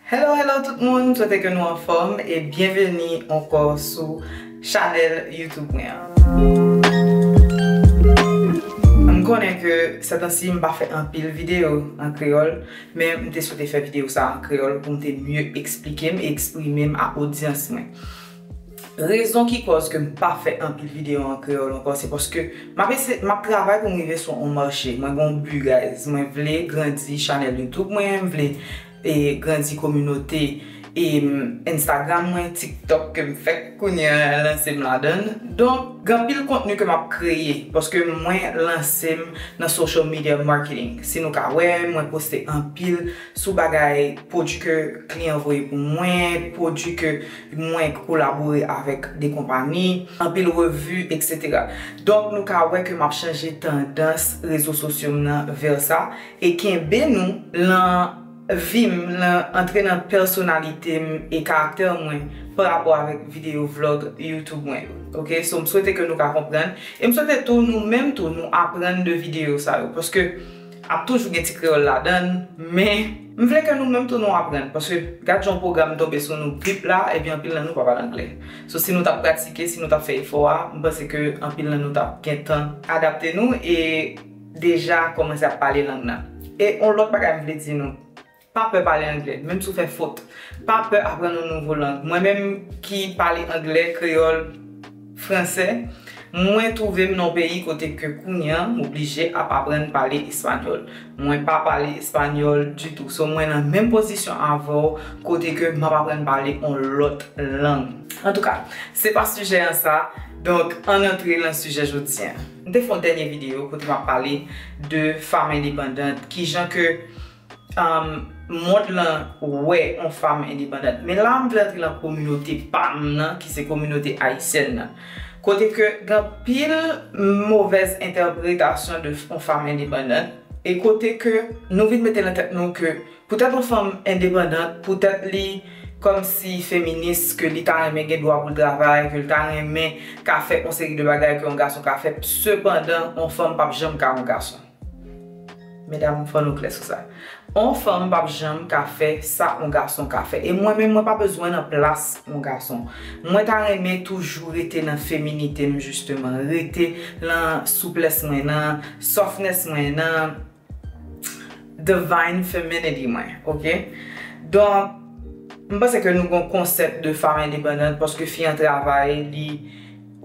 Hello hello tout moun, m swete ke nou anfòm e byenveni ankò sou chanèl youtube mwen an. M konnen ke sètansi m pa fè anpil videyo an kreyòl, men m te swete fè videyo sa an kreyòl pou m te mye eksplike m e eksprime m a odyans mwen. Rezon ki kòz ke m pa fè anpil videyo an kreyòl ankò se paske m ap eseye, m ap travay pou m rive sou on mache. Mwen gen on but guys, mwen vle grandi chanèl YouTube mwen, m vle grandi kominote Instagram mwen, TikTok ke m fèk kounye an lanse m ladan l. Donk gen anpil kontni ke m ap kreye paske mwen lanse m nan social media marketing. Si nou ka wè, mwen poste anpil sou bagay pwodui ke kliyan voye pou mwen, pwodui ke. Mwen kolabore avèk 2 konpani, anpil revi, etc. Donk nou ka wè ke map chanje tandans rezo sosyo m nan vè sa e kenbe nou lan vi m, lan antre nan pèsonalite m e karaktè mwen pa rapò avèk videyo vlog YouTube mwen yo. Ok, so m swete ke nou ka konprann e m swete tou nou menm tou nou aprann de videyo sa yo paske Ap toujou gen ti kreyòl ladan l, men m vle ke nou menm tou nou aprann, paske gad jan yon pwogram tonbe sou nou bip la, epi anpil nan nou pa pale angle. So si nou t ap pratike, si nou t ap fè efò a, m panse ke anpil nan nou t ap gen tan adapte nou e deja kòmanse ap pale lang nan. E yon lòt bagay m vle di nou, Pa pè pale anglè, menm si w fè fot. Pa pè aprann yon nouvo lang. Mwen menm ki pale anglè, kreyòl, fransè, mwen twouve m nan yon peyi kote ke kounye an, m oblije ap aprann pale espanyòl. Mwen pa pale espanyòl ditou. So mwen nan menm pozisyon avè w kote ke m ap aprann pale yon lòt lang. Antouka, se pa sijè an sa, donk ann antre lan sijè jodi an. M te fè yon dènye videyo kote m ap pale de fam endepandant, kijan ke mond lan wè yon fanm endepandant. Men la m vle antre lan kominote pa m nan ki se kominote ayisyèn nan. Kote ke gen anpil movèz entèpretasyon de yon fanm endepandant e kote ke nou vin mete lan tèt nou ke poutèt yon fanm endepandant, poutèt li kòmsi feminis ke li ta renmen gen dwa pou l travay, ke l ta renmen ka fè yon seri de bagay ke yon gason ka fè. Sepandan yon fanm p ap janm ka yon gason. Medam fò nou klè sou sa. On fanm pap janm ka fè sa on gason ka fè. E mwen menm mwen pa bezwen nan plas on gason. Mwen ta renmen toujou rete nan feminite m jisteman. Rete nan souplès mwen, nan softness mwen, nan divine femininity mwen. Ok? Donk, m panse ke nou gon konsèp de femme indépendante paske fi an travay li.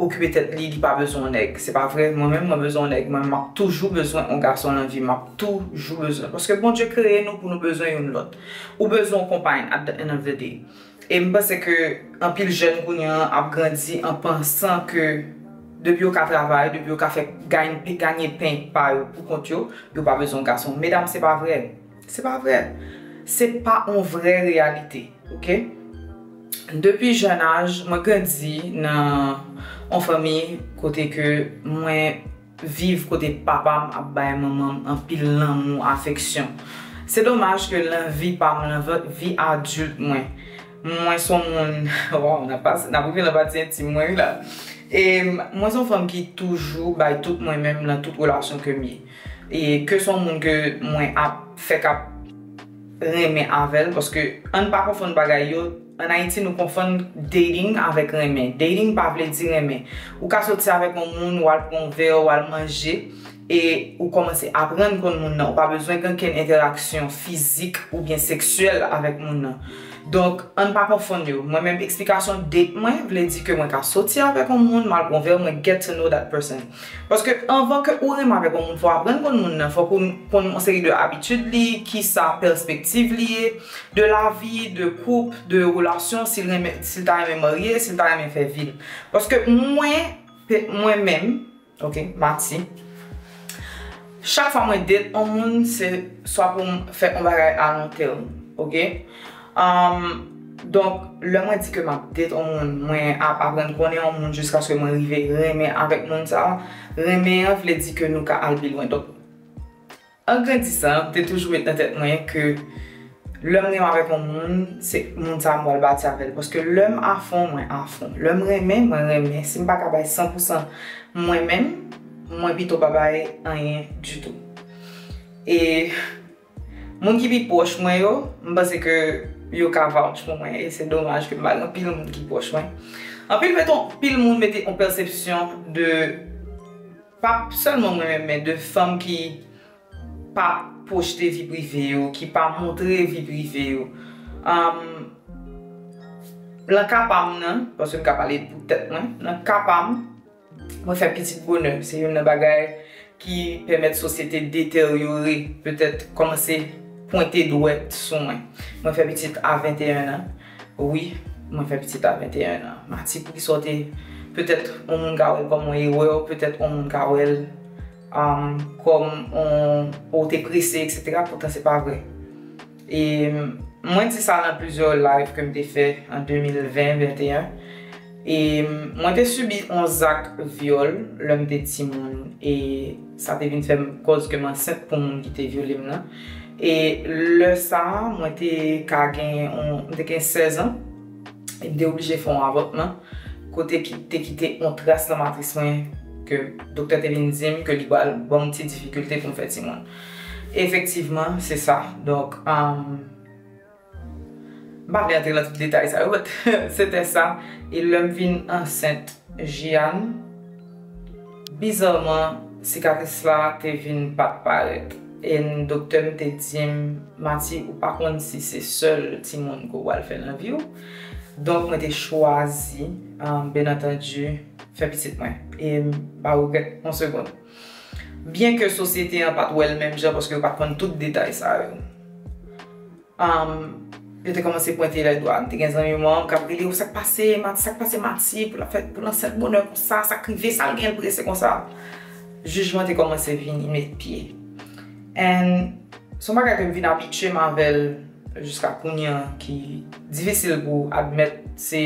okipe tèt li li pa bezwen yon nèg se pa vre mwen menm mwen bezwen yon nèg mwen menm map toujou bezwen yon gason nan vim map tou jou bezwen paske Bondye kreye nou pou nou bezwen youn lòt ou bezwen yon konpay at the end of the day e m panse ke anpil jèn kounye an ap grandi an pansan ke depi yo ka travay depi yo ka fè ganye pen pa yo pou kont yo yo pa bezwen yon gason medam se pa vre se pa vre se pa yon vre reyalite. Ok Depi jeune âge mwen grandi nan yon fanmi kote ke mwen viv kote papam ap bay manmanm anpil lanmou afeksyon se domaj ke lan vi pam lan vi adulte mwen mwen son moun waw nap rive lan pati intime mwen wi la e mwen son fanm ki toujou bay tout mwen menm lan tout relasyon kem ye e ke son moun ke mwen ap fèk ap renmen avèl paske ann pa konfonn bagay yo an ayiti nou konfonn dating avèk renmen dating pa vle di renmen ou ka soti avèk yon moun ou al pran yon vè ou al manje e ou kòmanse aprann konn moun nan ou pa bezwen gen kenn entèraksyon fizik oubyen seksyèl avèk moun nan donk ann pa konfonn yo mwen menm eksplikasyon date mwen vle di ke mwen ka soti avèk yon moun m al pran yon vè mwen get to know that person. Paske anvan ke ou renmen avèk yon moun fò w aprann konn moun nan, fòk ou konn yon seri de abitid li, kisa pèspektiv li ye de lavi, de koup, de relasyon, si l renmen, si l ta renmen marye, si l ta renmen fè vi l. Paske mwen, mwen menm, ok, Mati, chak fwa mwen date yon moun se swa pou m fè yon bagay a lon tèm, ok. Donk, lè mwen di ke m ap date yon moun, mwen ap aprann konnen yon moun jiskaske mwen rive renmen avèk moun sa a. Renmen an vle di ke nou ka al pi lwen. Donk, an grandisan, te toujou met nan tèt mwen ke lè m renmen avèk yon moun, se moun sa a m pral bati avè l. Paske lè m afon, mwen afon. Lè m renmen, mwen renmen. Si m pa ka bay san pou san mwen menm, mwen pito pa bay anyen ditou. E. Moun ki pi pwòch mwen yo, m panse ke yo ka vouch pou mwen e se domaj ke m pa gen anpil moun ki pwòch mwen. Anpil mete yon, anpil moun mete yon pèsepsyon de, pa sèlman mwen menm men de fanm ki pa pwojte vi prive yo, ki pa montre vi prive yo. Nan ka pa m nan, paske m ka pale pou tèt mwen, nan ka pa m. Mwen fè pitit bonè, se youn nan bagay ki pèmèt sosyete deteryore petèt kòmanse pwente dwèt sou mwen. Mwen fè pitit a 21 an, wi, mwen fè pitit a 21 an. Mati, pou kisa w te, petèt yon moun ka wè l kòm yon erè, petèt yon moun ka wè l kòm yon, ou te prese, eksetera, poutan se pa vre. E mwen di sa nan plizyè live ke m te fè an 2020, 21. E mwen te sibi yon zak vyòl lè m te timoun. E sa te vin fè m kòz ke m ansent pou moun ki te vyole m nan. E lè sa a, mwen te ka gen, mwen te gen 16 an. E m te oblije fè yon avòtman. Kote ki te kite yon tras nan matris mwen ke doktè te vin di m ke li pral ban m ti difikilte pou m fè timoun. Efektivman, se sa. Donk, m pa vle antre nan tout detay sa yo, but se te sa. E lè m vin ansent Jeanne, bizarman, sikatris la te vin pa t parèt. And doktè m te di m, Mati, ou pa konn si se sèl timoun ke w pral fè nan vi w. Donk, mwen te chwazi, byenantandi, fè pitit mwen. E m pa regrèt yon segond. Byen ke sosyete an pa t wè l menm jan paske yo pa t konn tout detay sa yo. Yo te kòmanse pwente lè dwa. M te gen zanmi mwen an k ap rele, Sa k pase Mati? Sa k pase Mati pou l ap fè, pou l ansent bonè konsa? Sa k rive? Sa l gen l prese konsa? Jijman te kòmanse vini met pye. And, s on bagay ke m vin abitye m avè l jiska kounye an ki difisil pou w admèt se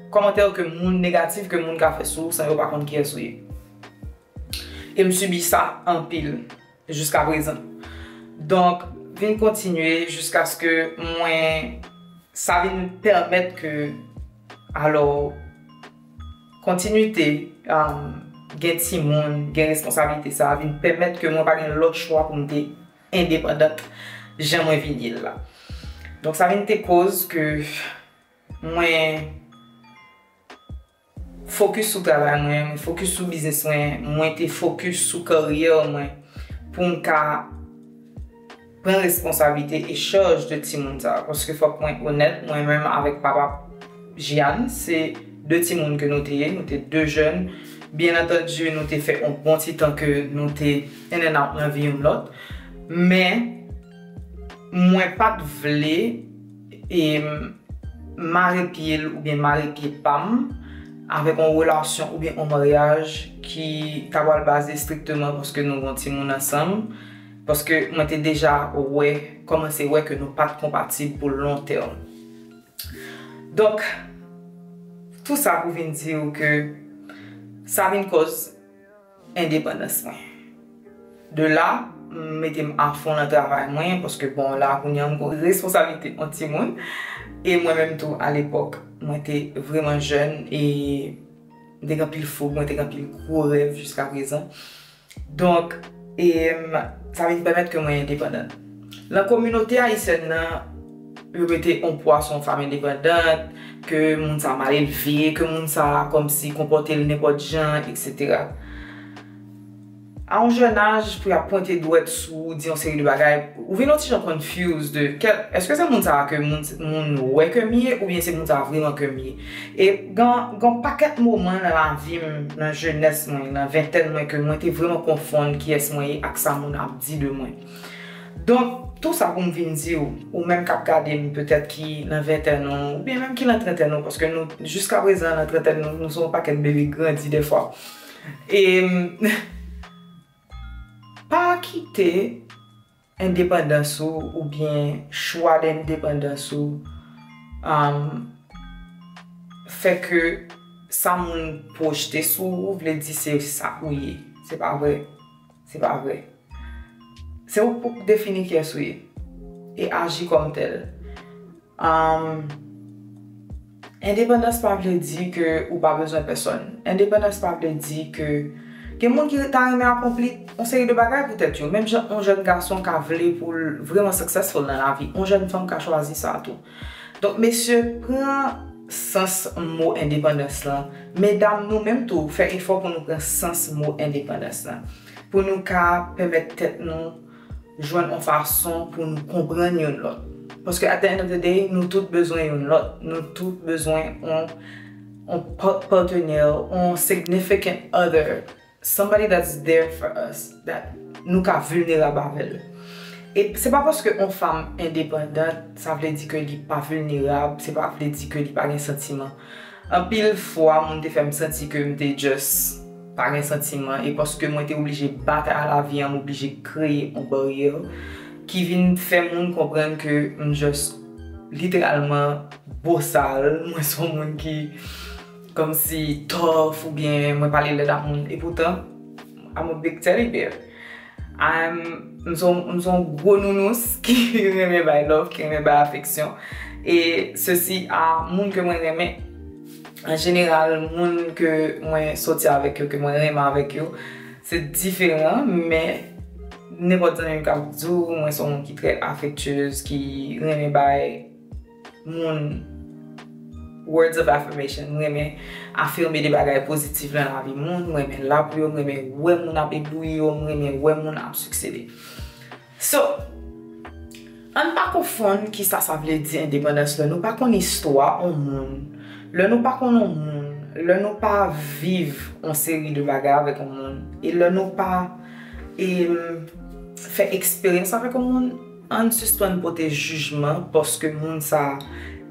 kòmantè ke moun, negatif ke moun ka fè sou w san yo pa konn kiyès ou ye. E m sibi sa anpil jiska prezan. Donk, vin kontinye jiskaske mwen sa vin pèmèt ke alò kontinite gen timoun, gen responsablite sa vin pèmèt ke mwen pa gen lòt chwa pou m te endepandant jan mwen vin ye l la. Donk sa vin te koz ke mwen. Focus sou travay mwen, mwen focus sou business mwen, mwen te focus sou carrière mwen pou m ka pran responsabilité et charge de timoun sa. Paske fok mwen onèt, mwen menm avèk papa Jianne se 2 timoun ke nou te ye, nou te 2 jèn. Bien entendu nou te fè on bon ti tan ke nou te in and out nan vi youn lòt. Men mwen pat vle. em mare pye l oubyen mare pye pa m avèk yon relasyon oubyen yon maryaj ki ta pral baze strikteman paske nou gen yon timoun ansanm paske mwen te deja wè kòmanse wè ke nou pa t konpatib pou lon tèm donk tou sa pou vin di w ke sa vin kòz. endepandans mwen. De la, m mete m afon nan travay mwen paske bon la kounye an m gen responsablite on timoun e mwen menm tou alepòk mwen te vreman jèn e m te gen anpil foug, mwen te gen anpil gwo rèv jiska prezan. Donk, sa vin pèmèt ke mwen endepandan. Lan kominote ayisyèn nan, yo mete yon pwa sou yon fanm endepandant, ke moun sa mal elve, ke moun sa kòmsi konpòte l nenpòt jan, eksetera. A yon jèn aj pou y ap pwente dwèt sou ou, di yon seri de bagay, ou vin yon ti jan confused de kè, èske se moun sa a ke moun wè ke m ye oubyen se moun sa a vreman ke m ye? E gen yon pakèt moman nan lavi m, nan jenès mwen, nan ventèn mwen ke mwen te vreman konfonn kiyès mwen ye ak sa moun ap di de mwen. Donk, tou sa pou m vin di w, ou menm k ap gade m petèt ki nan ventèn ou, oubyen menm ki nan trantèn ou, paske nou, jiska prezan nan trantèn nou, nou se yon pakèt bebe grandi dèfwa. E, pa kite endepandans ou oubyen chwa de endepandans ou fè ke sa moun pwojte sou ou vle di se sa ou ye. Se pa vre. Se pa vre. Se ou pou k defini kiyès ou ye e aji kòm tèl. Endepandans pa vle di ke ou pa bezwen pèsòn. Endepandans pa vle di ke gen moun ki ta renmen akonpli yon seri de bagay pou tèt yo. Menm jan yon jèn gason ka vle pou l vreman successful nan lavi, yon jèn fanm ka chwazi sa tou. Donk mesye pran sans mo endepandans lan, medam nou menm tou fè efò pou nou pran sans mo endepandans lan pou nou ka pèmèt tèt nou jwenn on fason pou nou konprann youn lòt paske at the end of the day nou tout bezwen youn lòt, nou tout bezwen on partenaire, on significant other. Somebody that's there for us, that nou ka vulnerab avèl. E se pa paske on fam endepandant sa vle di ke li pa vulnerab, se pa vle di ke li pa gen santiman. Anpil fwa moun te fèm santi ke m te just pa gen santiman e paske mwen te oblije batay a la vi an m oblije kreye on baryè ki vin fè moun konprann ke m just literalman bosal, mwen son moun ki Kòmsi tough oubyen mwen pale lèd ak moun e poutan I'm a big teddy bear. I'm m se yon gwo nounous ki renmen bay love, ki renmen bay afeksyon e sesi a moun ke mwen renmen an jeneral moun ke mwen soti avèk yo, ke mwen renmen avèk yo se diferan men nenpòt zanmi m ka di w mwen se yon moun ki trè afektiyez, ki renmen bay. moun words of affirmation m renmen afirme de bagay pozitif nan lavi moun m renmen la pou yo m renmen wè moun ap eblouyi yo m renmen wè moun ap siksede so ann pa konfonn kisa sa vle di endepandans lè nou pa konn istwa on moun lè nou pa konn on moun lè nou pa viv on seri de bagay avèk on moun e lè nou pa fè eksperyans avèk on moun. Ann sispann pote jijman paske moun sa a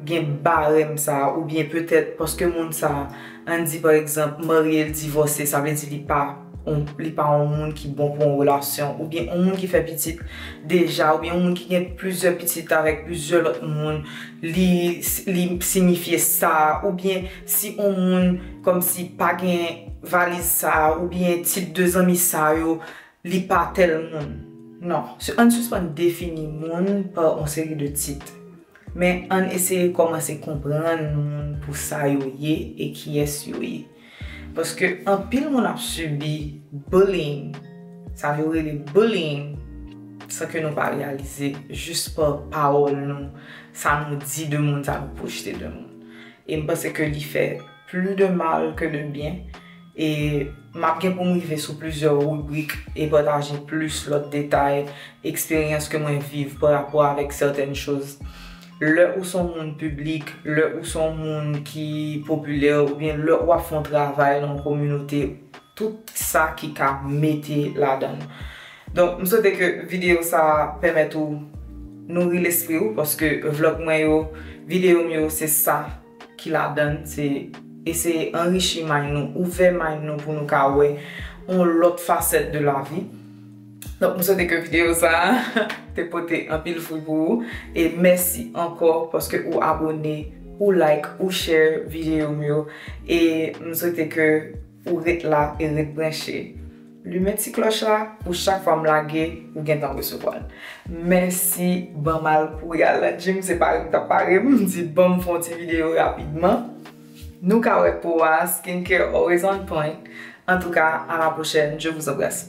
gen barèm sa a oubyen petèt paske moun sa a, ann di pa egzanp, marye l, divòse, sa vle di li pa on, li pa on moun ki bon pou on relasyon oubyen on moun ki fè pitit deja oubyen on moun ki gen plizyè pitit avèk plizyè lòt moun li, li sinifye sa a oubyen si on moun kòmsi pa gen valiz sa a oubyen tip de zanmi sa yo. Li pa tèl moun. Non. Ann sispann defini moun pa yon seri de tit. Men ann eseye kòmanse konprann moun pou sa yo ye e kiyès yo ye. Paske anpil moun ap sibi bullying, sa yo rele bullying, san ke nou pa reyalize, jis pa pawòl nou, sa nou di de moun, sa nou pwojte de moun. E m panse ke li fè pli de mal ke de byen. E map gen pou m rive sou plizyè ribrik e pataje plis lòt detay, eksperyans ke mwen viv pa rapò avèk sètèn choz. Lè ou son moun piblik, lè ou son moun ki popilè oubyen lè wap fon travay nan yon kominote, tout sa ki ka mete ladan. Donk m swete ke videyo sa a pèmèt ou nouri lespri ou paske vlog mwen yo, videyo m yo se sa. ki ladann se eseye anrichi may nou, ouvè may nou pou nou ka wè yon lòt fasèt de lavi. Donk m swete ke videyo sa a te pote anpil fwi pou ou e mèsi ankò paske ou abone, ou like, ou share videyo m yo e m swete ke ou ret la e ret branche. Limen ti klòch la pou chak fwa m lage ou gentan resevwa l. Mèsi banm al kouri al nan gym se pare m tap pare m di banm fon ti video rapidman. Nou ka wè po a skincare always on point antouka a la pwochèn je vous embrasse.